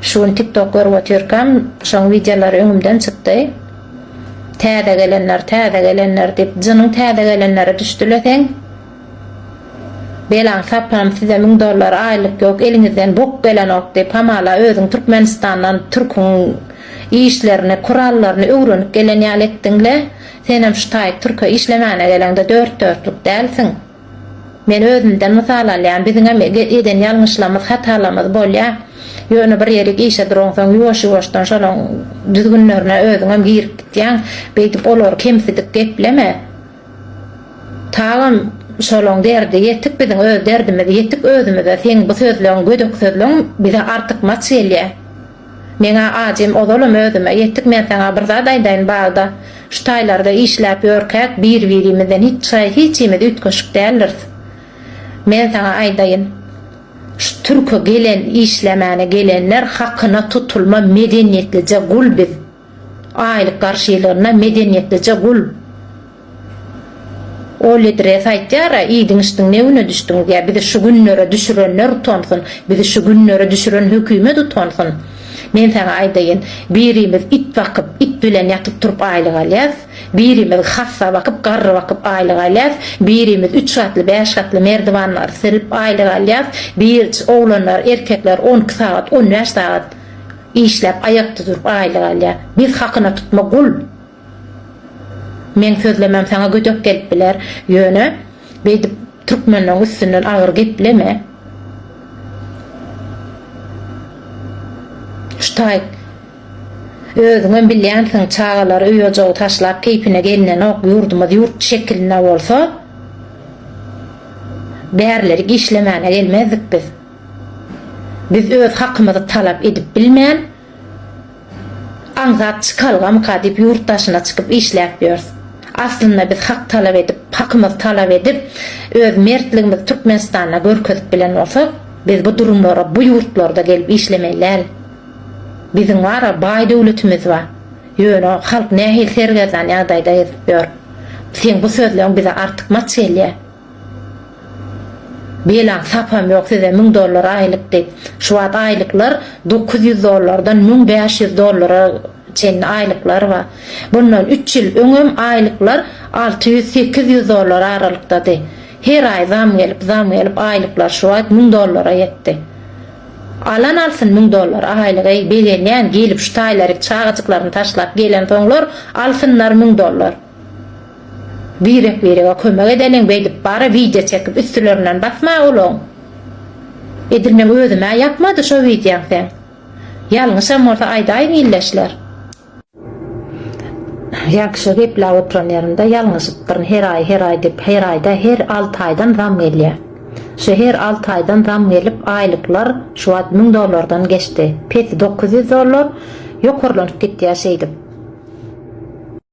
Şu gün tiktok görüp otyrkam şoň wideolary öňümden çykdy. Täze gelenler täze gelenler diýip jynyň täze gelenleri düşdüle seň. Belaň sapam size müň dollar aýlyk ýok eliňizden bok gelenok diýip hamala özüň türkmenistandan türküň işlerini kurallaryny öwrenip gelen ýaly etdiňle senem şu taýy türke işlemäne geleňde dört dörtlük dälsiň. Men özümden mysal alýan, biziňem eden ýalňyşlamyz, hatalamyz bolýa. Ýöne bir ýerik işe duransoň ýuwaş-ýuwaşdan şolaň düzgünlerine özüňem girip gitýäň. Beýdip olary kemsidik gepleme. Tagam şolaň derdi ýetik biziň öz derdimiz ýetik özümize seň bu sözleň gödek sözleň bize artykmaç gelýä. Meň-ä ajym ozalam özüme ýetik men saňa bir zat aýdaýyn bagda şu taýlarda işläp ýörkäk bir-birimizden hiç çaý hiçimiz üýtgeşik däldiris. Men saňa aýdaýyn şu türke gelen işlemäne gelenler hakyna tutulma medeniýetlije gul biz. Aýlyk garşylygyna medeniýetlije gul. Oledres aýtýar-a, iýdiň-içdiň ne güne düşdüňiz, ýa bizi şu günlere düşürenler utansyn, bizi şu günlere düşüren hökümet utansyn. Men saňa aýdaýyn, birimiz it bakyp, it bilen ýatyp-turup aýlyk alýas, birimiz hassa bakyp, garry bakyp aýlyk alýas, birimiz üç gatly, bäş gatly merdiwanlary silip aýlyk alýas, birc, oglanlar, erkekler on iki sagat, on bäş sagat. Işläp aýakda durup aýlyk alýar. Biz hakyna tutma gul. Meň sözlemem saňa gödek gelip biler. Ýöne beýdip türkmenleň üstünden agyr gepleme. Şu taýt özüňem bilýänsiň çagalary öý ojagy taşlap keýpine gelnenok ýurdumyz ýurt şekilinde bolsa bärlerik işlemäne gelmezdik biz. Biz öz hakymyzy talap edip bilmän, aňsat çykalgamyka diýip ýurt daşyna çykyp işläp ýörs. Aslynda biz hak talap edip, hakymyzy talap edip, öz mertligimizi Türkmenistanda görkezip bilen bolsak, biz bu durumlara bu ýurtlarda gelip işlemeli däl. Biziň bara baý döwletimiz bar. Ýöne halk nähili sergezdan ýagdaýda gezip ýör. Seň bu sözleň bize artykmaç gelýär. Belaň sapam ýok size müň dollar aýlyk diýip. Şu wagt aýlyklar dokuz ýüz dollardan müň bäş ýüz dollara çenli aýlyklar bar. Bundan üç ýyl öňem aýlyklar alty ýüz sekiz ýüz dollar aralyktady. Her aý zam gelip, zam gelip aýlyklar şu wagt müň dollara ýetdi. Alan alsyn müň dollar aýlygy begenýän gelip şu taýlaryk çagajyklaryny taşlap gelensoňlar alsynlar müň dollar. Birek birege kömek edeliň beýdip bara wideo çekip üstülerinden basma olaň. Edil meň özümä ýakmady şo wideoň seň. Ýalňyşam bolsa aýdaýyň ildeşler. Ýagşy gepläp oturan ýerimde ýalňyşypdyryn her aý her aý diýip her aýda her alty aýdan zam gelýä şu her alty aýdan zam gelip aýlyklar şu wagt müň dollardan geçdi pesi dokuz ýüz dollar ýokarlanyp gitýä şeýdip.